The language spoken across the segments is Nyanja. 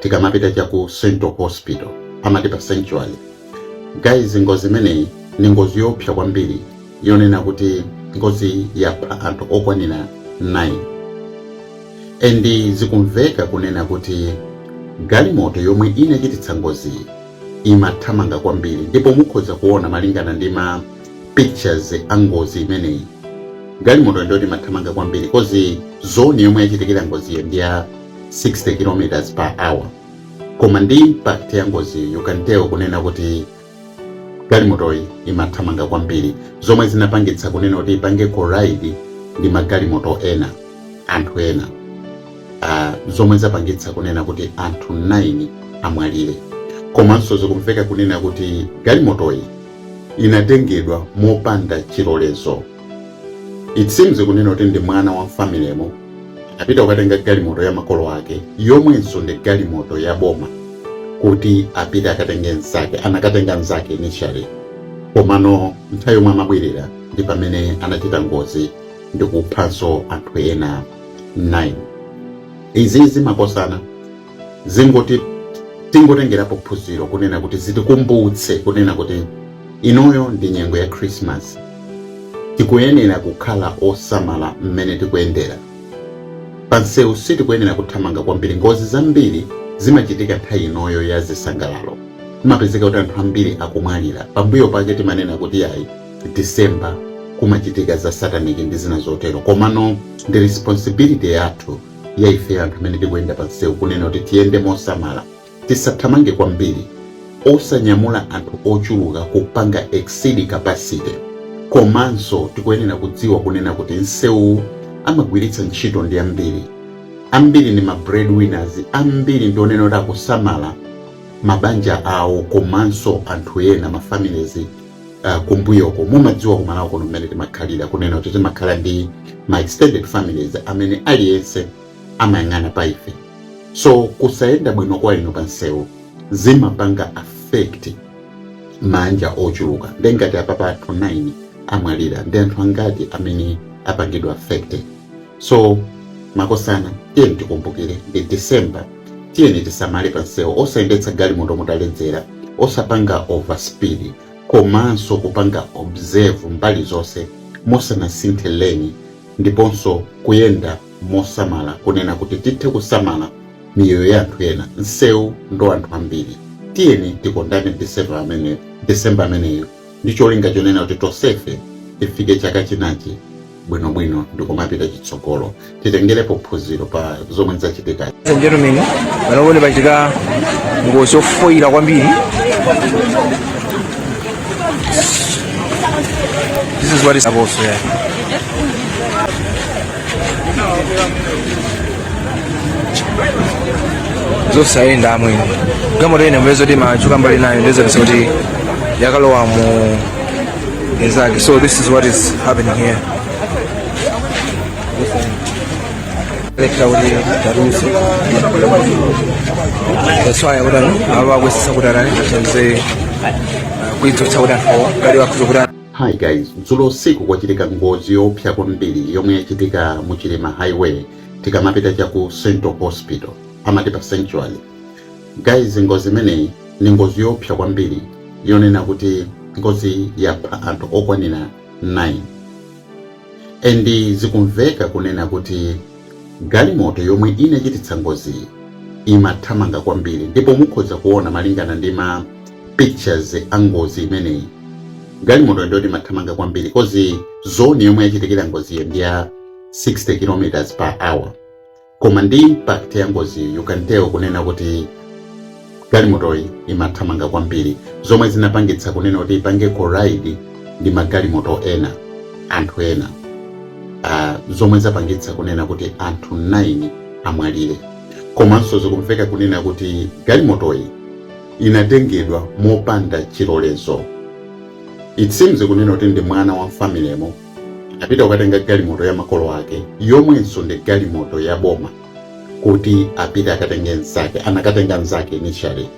tikamapita cha ku central hospital amati pa sanctuary guys ngozi imeneyi ni ngozi yoopsa kwambiri yonena kuti ngozi yapha anthu okwanira 9 endi zikumveka kunena kuti galimoto yomwe inachititsa ngoziyi imathamanga kwambiri ndipo mukhoza kuona malingana ndi ma pictures a ngozi imeneyi galimoto ndiyoti imathamanga kwambiri kozi zoni yomwe yachitikira ngoziyo ndi ya 60 km per hour koma ndi impact ya ngozi you can tell kunena kuti galimotoyi imathamanga kwambiri zomwe zinapangitsa kunena kuti ipange collide ndi magalimoto ena anthu ena uh, zomwe zapangitsa kunena kuti anthu 9 amwalire komanso zikumveka kunena kuti galimotoyi inatengedwa mopanda chilolezo it seems kunena kuti ndi mwana wa mfamilemo apita kukatenga galimoto ya makolo ake yomwenso ndi galimoto ya boma kuti apite akatenge mzake anakatenga mzake initially komano nthawi yomwe amabwerera ndi pamene anachita ngozi ndi kuphanso anthu ena 9 izizi makosana zingoti tingotengerapo phunziro kunena kuti zitikumbutse kunena kuti inoyo ndi nyengo ya khrisimasi tikuyenera kukhala osamala mmene tikuyendera pansewu sitikuyenera kuthamanga kwambiri ngozi zambiri zimachitika nthawi inoyo ya zisangalalo kumapezeka kuti anthu ambiri akumwalira pambuyo pake timanena kuti ayi disemba kumachitika za sataniki ndi zina zotero komano ndi responsibility yathu ya ifeyo anthu amene tikuyenda pa msewu kunena kuti tiyende mosamala tisathamange kwambiri osanyamula anthu ochuluka kupanga exceed capacity komanso tikuyenera kudziwa kunena kuti msewuwu amagwiritsa ntchito ndi ambiri ambiri ndi ma breadwinners ambiri ndi onena kuti akusamala mabanja awo komanso anthu ena mafamilies uh, kumbuyoko mumadziwa kumalawi kuno mmene timakhalira kunena kuti timakhala ndi ma extended families amene aliyense amayang'ana pa ife so kusayenda bwino kwa inu pansewu zimapanga affect maanja ochuluka nde ngati apapa anthu 9 amwalira ndi anthu angati amene apangidwa affected so makosana tiyeni tikumbukire ndi december tiyeni tisamale pansewu osayendetsa galimoto mutaledzera osapanga overspeed komanso kupanga observe mbali zonse musanasinthe leni ndiponso kuyenda mosamala kunena kuti tithe kusamala miyoyo ya anthu ena nsewu ndi wa anthu ambiri tiyeni tikondane december ameneyo ndi cholinga chonena kuti tonsefe tifike chaka chinacho bwinobwino ndikumapita chitsogolo titengerepo phunziro pa zomwe zachitika gentlemen pano kuti pachitika ngozi yofoyira kwambiri this is what is about here zosayenda amwene galimoto ine mbezo timachuka mbali nayo ndiye zapezeka kuti yakalowa mu Exactly. So this is what is happening here. That's why I would have always said that I can say, we do tell that for, but you have to do that. hi guys dzulo usiku kwachitika ngozi yoopsa kwambiri yomwe yachitika mu chilima highway tikamapita cha ku central hospital amati pa sanctuary Guys ngozi imeneyi ndi ngozi yoopsa kwambiri yonena kuti ngozi yapha anthu okwanira 9 and zikumveka kunena kuti galimoto yomwe inachititsa ngoziyi imathamanga kwambiri ndipo mukhoza kuona malingana ndi ma pictures a ngozi imeneyi galimoto ndiyoti imathamanga kwambiri coz zone yomwe yachitikira ngoziyo ndi ya 60 km per hour koma ndi impact ya ngoziyi you can tell kunena kuti galimotoyi imathamanga kwambiri zomwe zinapangitsa kunena kuti ipange collide ndi magalimoto ena anthu ena uh, zomwe zapangitsa kunena kuti anthu 9 amwalire komanso zikumveka kunena kuti galimotoyi inatengedwa mopanda chilolezo it seems kunena kuti ndi mwana wa mfamilymo anapita kukatenga galimoto ya makolo ake yomwenso ndi galimoto ya boma kuti apite akatenge nzake anakatenga nzake initially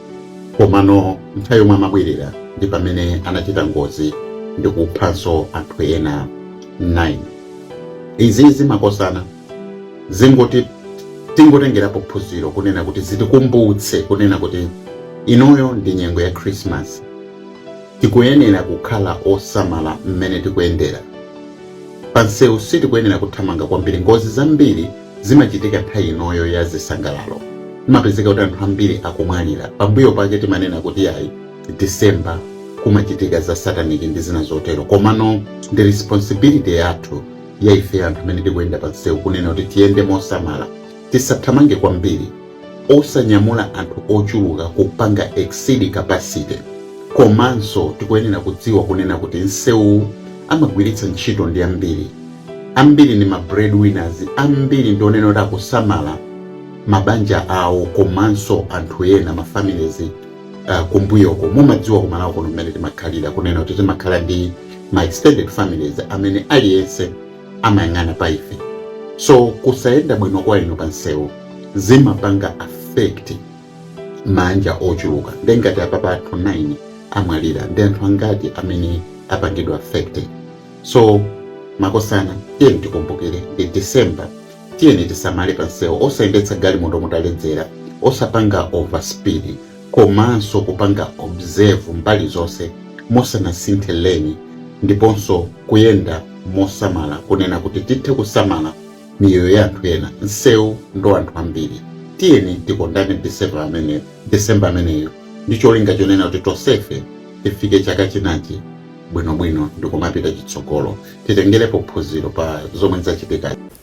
komano nthawi yomwe amabwerera ndi pamene anachita ngozi ndi kuphanso anthu ena 9 izizi makosana zingoti tingotengerapo phunziro kunena kuti zitikumbutse kunena kuti inoyo ndi nyengo ya krismasi Tikuyenela kukhala osamala mmene tikuyendela. Pa nsewu sitikuyenela kuthamanga kwambiri. Ngozi zambiri zimachitika nthawi inoyo ya zisangalalo. Zimapezeka kuti anthu ambiri akumwalira. Pambuyo pake timanena kuti yayi December kumachitika za satanic ndi zina zotelo. Komano ndi responsibility yathu ya ifeyo anthu amene tikuyenda pa nsewu kunena kuti tiyende mosamala. Tisathamange kwambiri. osanyamula anthu ochuluka kupanga exceed capacity komanso tikuyenera kudziwa kunena kuti nsewuwu amagwiritsa ntchito ndi ambiri ambiri ndi ma breadwinners ambiri ndi onena kuti akusamala mabanja awo komanso anthu ena ma families uh, kumbuyoko mumadziwa ku Malawi kuno mmene timakhalira kunena kuti timakhala ndi ma extended families amene aliyense amayang'ana pa ife so kusayenda bwino kwa inu pa nsewu zimapanga affect maanja ochuluka nde ngati apapa anthu 9 amwalira ndi anthu angati amene apangidwa affected so makosana tiyeni tikumbukire ndi december tiyeni tisamale pa nsewu osayendetsa galimoto mutaledzera osapanga overspeed komanso kupanga observe mbali zonse mosanasinthe lane ndiponso kuyenda mosamala kunena kuti tithe kusamala miyoyo ya anthu ena nsewu ndi anthu ambiri tiyeni tikondane december ameneyo ndi cholinga chonena kuti tonsefe tifike chaka chinachi bwinobwino ndikumapita chitsogolo titengerepo phunziro pa zomwe zachitika